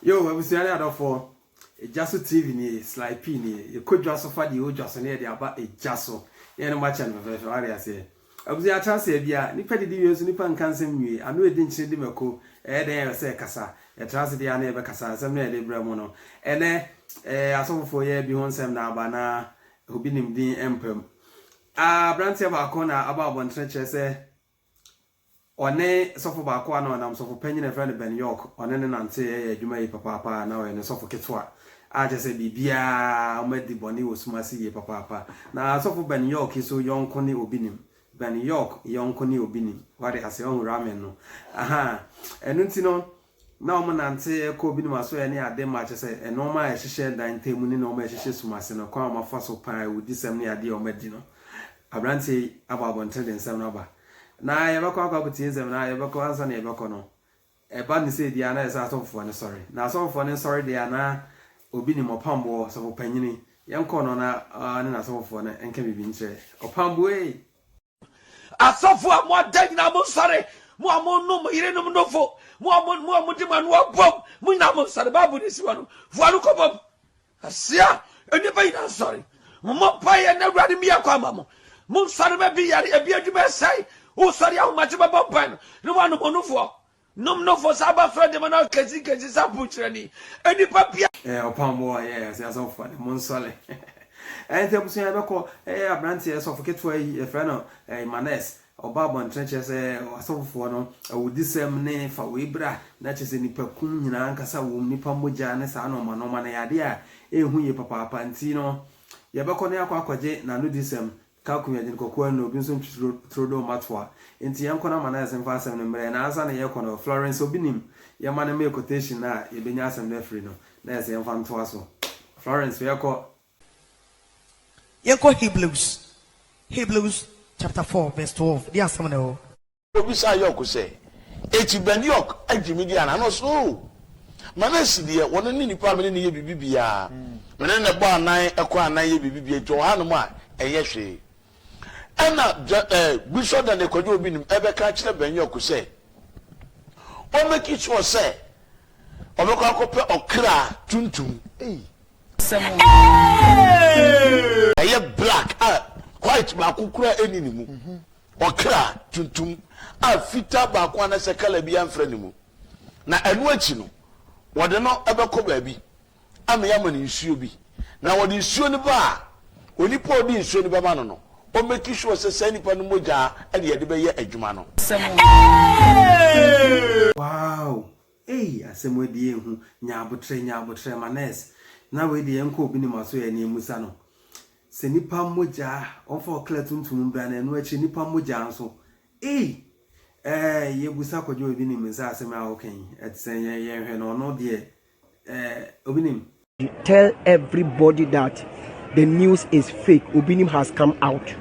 yo abusua ne adɔfoɔ ɛgya so tv nie sly p nie yɛkɔ dwa so fa deɛ ɔdwa so ne yɛde aba ɛgya so ne yɛne makyɛ no fɛfɛɛfɛ wade aseɛ Abusua atra ase a bia nipa didi wie nso nipa nka nsɛm nwie, ano edi nkyene di mako, ɛyɛ dɛn ɛwɛ sɛ ɛkasa, yɛtra ase deɛ a na yɛbɛkasa, nsɛm no a yɛde brɛ mo no ɛnɛ ɛɛ asɔfofoɔ yɛ bi ho nsɛm na aba na obi nim din mpa mu. Abranteɛ baako na aba abɔntene kyerɛ sɛ. Ɔne sɔfo baako a na ɔnam sɔfo panyin a yɛfrɛ no Ben York, ɔne no nante yɛyɛ adwuma yi papaapa a na ɔyɛ ne sɔfo ketewa, a kyerɛ sɛ biribiara wɔadi bɔne wɔ sum ase yie papaapa. Na sɔfo Ben York yi so yɔnko ne obi nim. Ben York yɔnko ne obi nim. Wate ase? Wahu ramen no? Ahaa. Ɛno nti no, Na wɔnante kɔ ebinom asoɛe ne ade ma kyerɛ sɛ nnoɔma a ɛhyehyɛ dan ntam mu ne nnoɔma a ɛhyehyɛ sum ase no, kwan a wɔafa so paa awudisɛm ne adeɛ a wɔadi no. Aberanteɛ yi abɔ abɔnten de nsɛm no aba. Na yɛbɛkɔ akɔ akɔtie nsɛm no ara a, yɛbɛkɔ ansa na yɛbɛkɔ no, ɛba no sɛ biara na ayɛ sɛ asɔfofoɔ no sɔre. Na asɔfofoɔ no nsɔre deɛ a, na obi nim ɔpamboɔ, ɔsɔfopanyini. Yɛnkɔ no na ɔne n'asɔfofoɔ no nka biribi nkyerɛ ɔpamboɔ ei! Asɔfo a mo ada nyinaa mo nsɔre, mo a mo nom mo yerenom nofo, mo a mo mo a mo de mo ano abom, mo nyinaa mo nsɔre. Baabu ne si wa no, fua no kɔbɔ mu. Asia, nnipa nyinaa nsɔre. Mo mo mpa yɛ na awurade mi yɛ kɔ ama mo. Mo nsɔre bɛ bi yare, ebi adwuma ɛsɛe. Wo sɔre ahomakye bɛbɔ mpa no, ne wa nom onufoɔ. Nom no fo sa ba fɛ dema na kesi kesi sa pu kyerɛ ni enipa bia. Ɛɛ ɔpam bɔ a yɛ ɛsɛ asɔfo ne mo nsɔle ɛɛ nti abusua yɛ bɛkɔ ɛɛ abrante yɛ sɔfo ketewa yi yɛfrɛ no ɛɛ manes ɔba abɔntene kyerɛ sɛ asɔfofoɔ no awudisɛm ne fa wei bra na kyerɛ sɛ nipa kum nyinaa ankasa wom nipa mogya ne saa nɔɔma nɔɔma no yɛ adeɛ a ɛnhu yie papaapa nti no yɛbɛkɔ ne akɔ akɔgye n'anodisɛm Kaku yɛ dzen kɔkɔɔ nna obi nso ntwitr tro do mma toa. Ntsi yɛnkɔ na ma nurse mfa asɛm no mbrɛ hɛn ansa na yɛkɔ no. Florence obi nim? Yɛma no mee quotation no a yebenya asɛm no efir no. Nurse yɛmfa ntoa so. Florence hwɛ kɔ. Yɛnkɔ Hebrews, Hebrews chapter four verse twelve, bi asɛm na ɛwɔ hɔ. Obisaa York sɛ, Enti Ben York agye me di anaa? Na ɔse, Oo! Ma no asi deɛ, wɔno ne nipa a mene no yɛ biribi biaa. Mene no bɔ anan, kɔ anan yɛ biribi biaa, enti ɔhanom a, ɛnyɛ hwee. Ɛna Bishop Daniel Kwadwo Obinim bɛka akyerɛ Ben York sɛ, ɔ make sure sɛ ɔbɛkɔ akɔpɛ ɔkra tuntum. Ɛyɛ black a white baako koraa nni ne mu. Ɔkra tuntum a fitaa baako anaasɛ kala biara mfra ne mu, na ɛno akyi no, wɔde no bɛkɔ baabi ama yɛama no nsuo bi. Na wɔde nsuo no ba a, onipa a ɔde nsuo no bɛma no no, ɔmmɛki sure sɛ saa nipa no mogya na yɛde bɛyɛ adwuma no. Wow ei asɛm adi ehu nya abotrɛ nya abotrɛ ma nurse na wei deɛ ɛnkɔ obi ne ma so ɛneɛ musa no Sɛ nipa mogya a ɔmfa ɔkra tuntum mbra na ɛno akyire nipa mogya nso ei ɛɛ yɛbusa kwadwo obi nim nsa asɛm a woka yi ɛtesɛ yɛn yɛn hwɛ no ɔno deɛ ɛɛ obi nim. Tell everybody that the news is fake obi nim has come out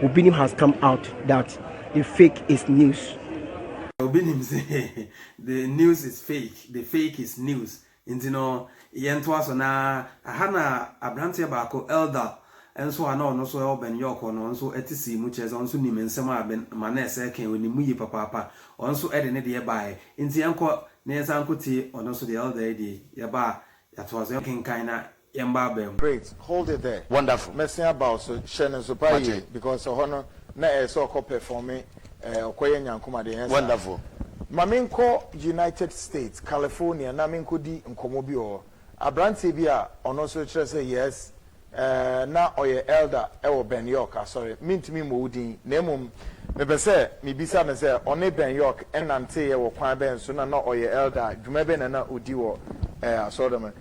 obi nim has come out that the fake is news. Obi nim sɛ the news is fake the fake is news Nti no, yɛntoa so, na aha na aberanteɛ baako, Eldar, nso a na ɔno nso wɔ Ben York hɔ no, ɔno nso te sii mu, kyerɛ sɛ, ɔno nso nim nsɛm a Ben ma na ɛsɛ kɛn, ɔnim mu yie papaapa, ɔno nso de ne deɛ baeɛ. Nti yɛnkɔ na yɛnsan nkɔtie ɔno nso deɛ, Eldar yi deɛ, yɛba a, yɛatoa so. Yɛnkenkan na Yɛn ba abɛn mu. Great, hold it there. Wonderful. Mɛsen aba wo so, hyɛ no nso paa yie, because ɛhɔ no na ɛyɛ sɛ ɔkɔ performe ɛɛ ɔkɔ yɛ nyankom adeɛ, ɛnyɛ saa? Wonderful. Ma menkɔ United States, California na menkɔdi nkɔmmɔ bi wɔ hɔ. Aberanteɛ bi a ɔno nso kyerɛ sɛ yes, ɛɛ na ɔyɛ elder wɔ Ben York asɔre, mentumi mmɔ wo din, na mmom mepɛ sɛ mebisa no sɛ ɔne Ben York nanteeɛ wɔ kwan bɛn so na na ɔyɛ elder a, dwuma bɛn na na ɔdi wɔ ɛɛ asɔreda mu.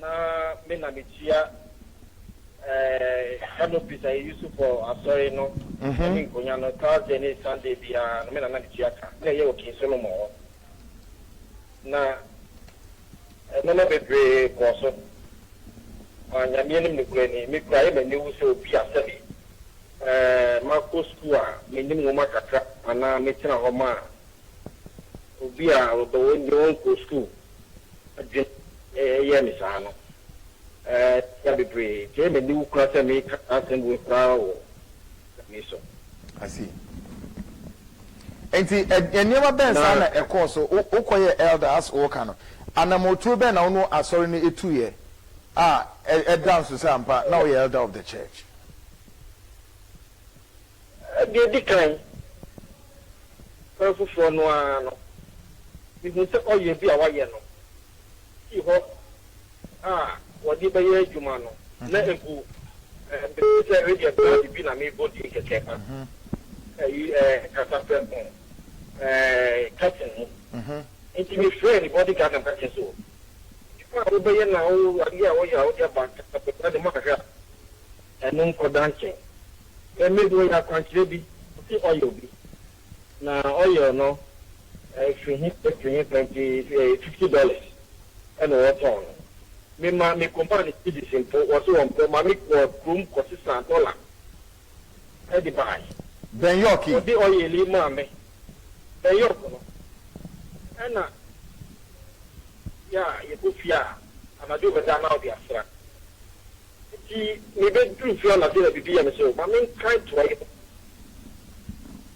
Na me na metua eh, Hermopis a yɛyi so kɔ asɔre no mm-hmm. ne nkonya no Thursday ne Sunday biara no me na na metua ka na ɛyɛ wɔ King Solomon hɔ na nneɛma bebree kɔɔ so ma nyameɛ nim nokorɛ ni me kura yɛ m'ani wo sɛ obi a sɛbi eh, makɔ sukuu a menim nwoma kakra anaa metena hɔ ma obi a ɔdɔ wɔn deɛ wɔnkɔ sukuu adwene yɛɛ me saa no, ɛyaa bebree. Ɛyɛ me aniwu koraa sɛ mereka saa asɛm wei koraa wɔ da wei so. I see. Enti nneɛma bɛn saa na ɛkɔɔ so? Wokɔyɛɛ elder as woreka no, anammɔntuo bɛn na wo ne asɔre no tuiɛ a ɛda nso sɛ ampa na woyɛ elder of the church? Deɛ ɛdi kan, kwan foforɔ no ara no, mehuu sɛ ɔyea bi a wɔayɛ no sii hɔ a wɔde bɛyɛ adwuma no, na ɛgu bem sɛ ɛyɛ band bi na merebɔ din kɛkɛ ma ayi kasaprɛ ho curtain no. Enti mefrɛɛ ne body guard na meka kyerɛɛ sɛ, Adwuma a wobɛyɛ na wo adeɛ a wɔyɛ a wode aba kasaprɛ koraa deɛ mahwɛ a. Ɛno nkɔda nkyɛn. Sɛ mebɔ yɛ akwankyerɛ bi, ɔse ɔyɛ obi, na oil no firi he firi he pɛ nti fifty dollars na wɔtɔn no. Mema me kɔmaa no cedis mpo, wɔse wɔmpɛ. Ma me kɔɔ kurom kɔsesaa dɔla de baeɛ. Ben York yi. Ɔde oil yi maa me. Ben York no, ɛna yɛ a yɛkɔ fie a, anadwo bɛda a na ɔde asra. Enti mebedu mfe anadwo na biribi yɛ me sɛ o, ma menkae toa yi ho.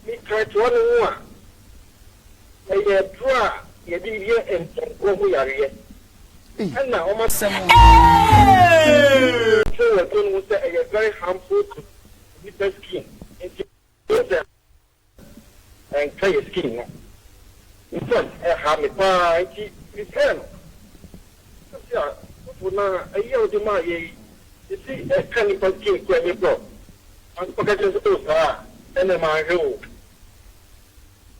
Mekae toa no ho a, ɛyɛ aduru a wɔde yɛ mpɔnkɔ ho yareɛ. Ɛnna wɔn asɛm no kyerɛ wɔ aduro no ho sɛ ɛyɛ very harmful to nnipa skin. Enti, wohu sɛ Ɛnka yɛ skin no nsɛm ɛha me paa nti me pɛɛ no. Sɛsi a Fufu na ayi a wode maa yɛ yi sɛsi ɛka nipa skin koraa me brɔ. Ansa mɛka kyerɛ sɛ oh saa a ɛnɛ manhwɛ oo.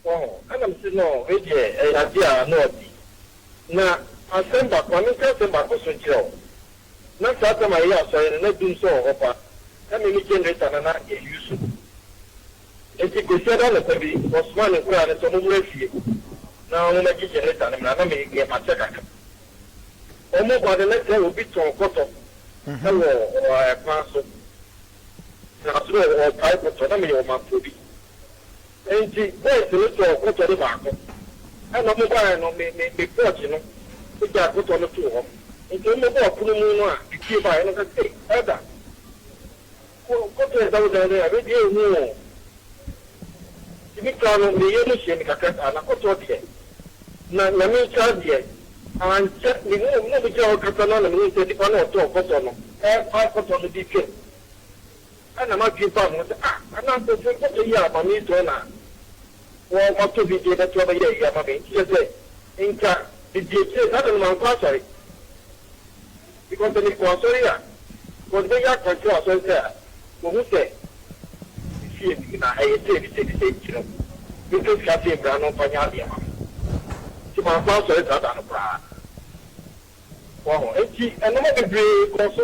Wahu ɛna mese no wei deɛ ɛyɛ adeɛ a na ɔte. Na asɛm baako ma menka asɛm baako nso nkyerɛ wo. Na saa time a yɛyɛ asɔre no na dum nso wɔ hɔ paa. Na me me generator no na yɛ use. Enti Kwasiada anɔpa bi, ɔsomaa ne nkoraa no sɛ wɔmmra fie na wɔmmɛgye Jeneta no mmra na me deɛ makyɛ kakra. Wɔba no, na sɛ obi tɔn kɔtɔ wɔ kwan so, na nso na wɔrepae kɔtɔ, na meyɛ ɔmanfoɔ bi. Enti boys no tɔɔ kɔtɔ no baako, ɛnna wɔbaeɛ no, me me me pɔɔkye no gyaa kɔtɔ no too hɔ. Enti wɔbɛbɔɔ pono mu no a, me fie baeɛ no ka sɛ, Ei, Elder! Wo kɔpɛ da wo dan no a me deɛ nhu oo nti me kra no me yam hye me kakra saa na kɔtɔ deɛ na nyame nkyɛ adeɛ ankyɛ me hu obi na ɔmo gyina hɔ kasa no a na me hu sɛ nipa no ɔtɔɔ kɔtɔ no ɛɛpae kɔtɔ no de twam ɛna m'adwene baa me ho sɛ ah ana nkorɔfoɔ yi kɔtɔ yi a maame yi tɔn na wɔ matɔ bi de bɛto abɛyɛ ayi ama me nti kyerɛ sɛ nka me di akyire saa da no mankɔ asɔre. Because sɛ mekɔ asɔre a because mɛyɛ akwankyerɛ wɔ asɔre sɛ a wɔhu sɛ me fie no mu na ɛyɛ sei ne sei ne sei nti no mempɛ sika sei mmra no mfa nyɛ adeɛ mma me nti mankɔ asɔre saa da no koraa wahu nti nnoɔma bebree kɔɔ so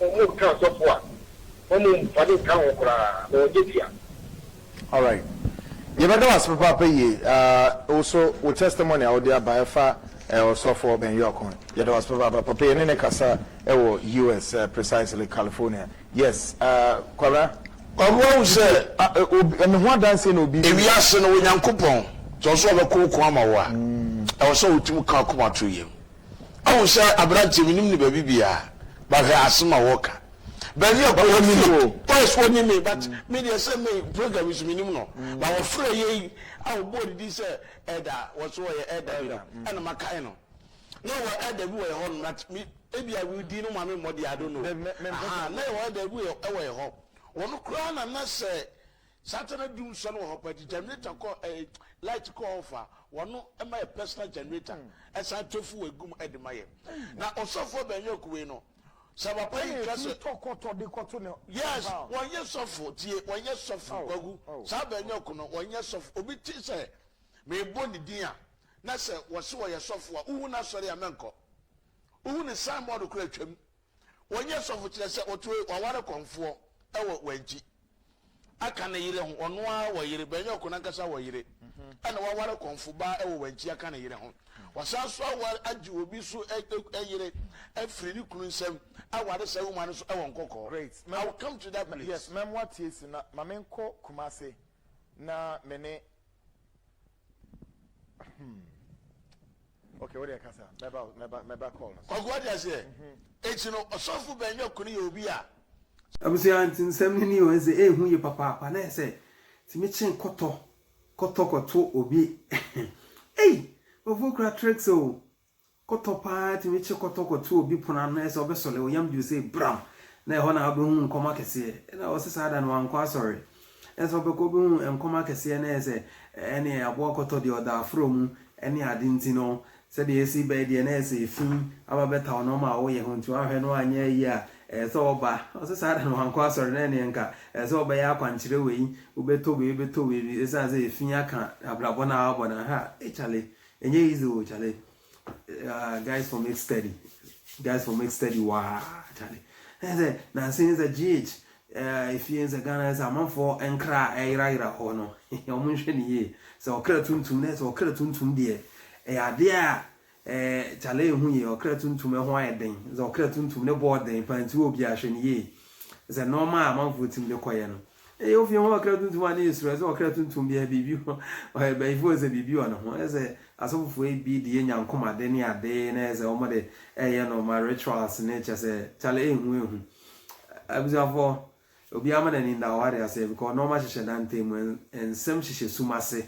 Wɔnka asɔfo a, wɔn mfa no nka ho koraa, na wɔnyɛ bi a. Alright yɛbɛda wo ase papaapa yie ahh wo so wo testimony a wode aba ɛfa ɔsɔfoɔ Ben York ho yɛda wo ase papaapa papa yɛne no kasa wɔ US precisely California yes ahh Kwabena. Ɔno ahu sɛ. Me ho adanseɛ na obi. Ewiase no, Onyankopɔn, sɛ ɔsɛ sɛ ɔbɛko ɔko ama wo a, ɛwɔ sɛ wotumi ka w'akoma to yam. Ahu sɛ aberanteɛ menim no baabi biaa but hwɛ asem a wɔka baabi a kura me o yes wɔnim me but me deɛ sɛ me program yi so menim no but wɔfrɛ yei a wɔbɔɔ ne din sɛ ɛda wɔso wɔyɛ ɛda bi no ɛna makae no na wɔ ɛda bi wɔ yɛ hɔ nom but me ebi a din no ma me mmɔde I don't know aha na yɛ wɔ ɛda bi wɔ yɛ hɔ wɔn koraa na na sɛ Saturday dum sɔn wɔ hɔ paa nti generator kɔ eh, light kɔ off a wɔno ma yɛ personal generator ɛsan tɔ fuel egu mu ɛde ma yɛ. Na ɔsɔfo Obeng Akuwei no sɛ papa yi ka sɛ. Yes wɔn nyɛ sɔfo tie wɔn nyɛ sɔfo kwaku saa Obeng-Aku no wɔn nyɛ sɔfo obi te sɛ meebɔ ne din a na sɛ wɔse wɔyɛ sɔfo a wohu n'asɔre a mɛnkɔ wohu ne sign board koraa twam Wɔnyɛ sɔfo kyerɛ sɛ ɔtoe waware kɔmfoɔ wɔ wankyi aka ne yere ho ɔno ara wɔ yere bɛnyɛ ɔko nankasa wɔ yere ɛna waware kɔmfo baa wɔ wankyi aka ne yere ho wasan so aware agye obi so yere afiri ne kunu nsam aware saa wuma no so ɛwɔ nkɔkɔɔ great I will come to that place yes mɛmoa tie si na ma menkɔ kumase na me ne Hmm. Okay, what do you kasa? Meba, meba, meba call. Kwaku, what do you say? Echi no, osofo bɛnyɛ kuni yɛ obi a. Abusua nti nsɛm no ni o ɛsɛ ehu yɛ papaapa na ɛsɛ tumi kyen kɔtɔ kɔtɔ kɔto obi ei wɔfo kura tricks o Kɔtɔ paa tumi kye kɔtɔ kɔto obi pon ano na ɛsɛ ɔbɛsɔle wo yam bio sei bram na ɛhɔ na wobɛhu nkɔm akɛseɛ ɛna ɔse saa da no wankɔ asɔre ɛsɛ ɔbɛkɔ wobɛhu nkɔm akɛseɛ na ɛsɛ ɛneɛ aboa kɔtɔ deɛ ɔda aforɔ mu ɛne ade nti no sɛdeɛ ɛsi bɛɛ deɛ na ɛsɛ ɛfi aba bɛta wo na ɔma wo yɛ ho nti wanhwɛ no anyɛ ayie a ɛsɛ ɔba ɔse saa da no wankɔ asɔre na ɛneɛ nka ɛsɛ ɔbɛyɛ akwankyerɛ wei wobɛtɔ wei wobɛtɔ wei ɛsiane sɛ ɛfi aka abrabɔ no a wabɔ no ha ei chale Ɛnyɛ easy o chale uh, guys for make steady guys for make steady waa chale ɛyɛ sɛ nansi ɛyɛ sɛ gh eh, efie ɛyɛ sɛ ghana ɛyɛ sɛ amanfoɔ nkra a ɛyerayera hɔ no wɔn nhwɛ ne yie sɛ ɔkra tuntum na ɛyɛ sɛ ɔkra tuntum deɛ ɛyɛ adeɛ a ɛɛ chale ehu yie ɔkra tuntum ɛho ayɛ den sɛ ɔkra tuntum ne bɔɔ den paa nti wɔ obi ahwɛ ne yie sɛ nɔɔma a amanfoɔ tim de kɔyɛ no Eyi ofi ho ɔkra tuntum a ne yɛ suro, ɛsɛ ɔkra tuntum biara biribi ho, ɔyɛ bayifo ɛsɛ biribi wɔ ne ho, ɛsɛ asɔfofo ebi de yɛ nyankomade ne ade na ɛyɛ sɛ wɔn de ɛyɛ no ma rituals ne kyɛ sɛ kyale ehu ehu abusuafo obiara ma n'ani nda ɔware ase because nɔɔma hyehyɛ da ntɛn mu nsɛm hyehyɛ sum ase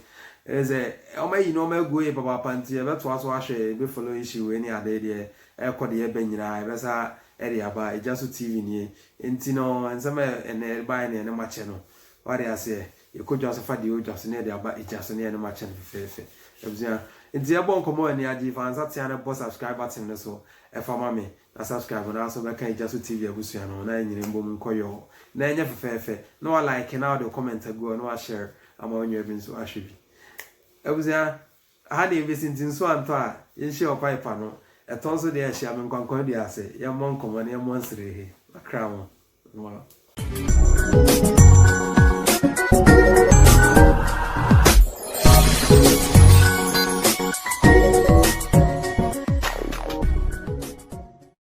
ɛyɛ sɛ wɔn ayi nɔɔma agu yɛ papaapa nti yɛbɛ toa so ahwɛ yɛbɛ follow issue wei ne ade deɛ ɛkɔ deɛ ɛbɛ nyinaa yɛbɛ sa ɛde aba egya so tv nie Enti no, nsɛm a ɛnnɛ ɛrebaeɛ ne ɛne makyɛ no, wate aseɛ, yɛkɔ dwa so fa deɛ ɛwɔ dwa so ne yɛde aba gya so ne ɛne makyɛ no fɛfɛɛfɛ. Abusua, enti yɛbɔ nkɔmmɔ wɔ aniagye, fa nsa tea no bɔ subscribe button no so fa ma me, na subscribe no ara so bɛka Gya So TV abusua no ho na yɛnyere mbom nkɔ yɔɔ na ɛnyɛ fɛfɛɛfɛ, na wa like na wode wo comment agu hɔ na wa share ama wo nua bi nso ahwɛ bi. Abusua. Aha deɛ yɛbɛsi nti nsuo antɔ a yɛnhyia ɔkwan pa no, ɛtɔ nso deɛ a hyia me nkwankwan dua ase yɛmmɔ nkɔmmɔ na yɛmmɔ nsere he makra ho no.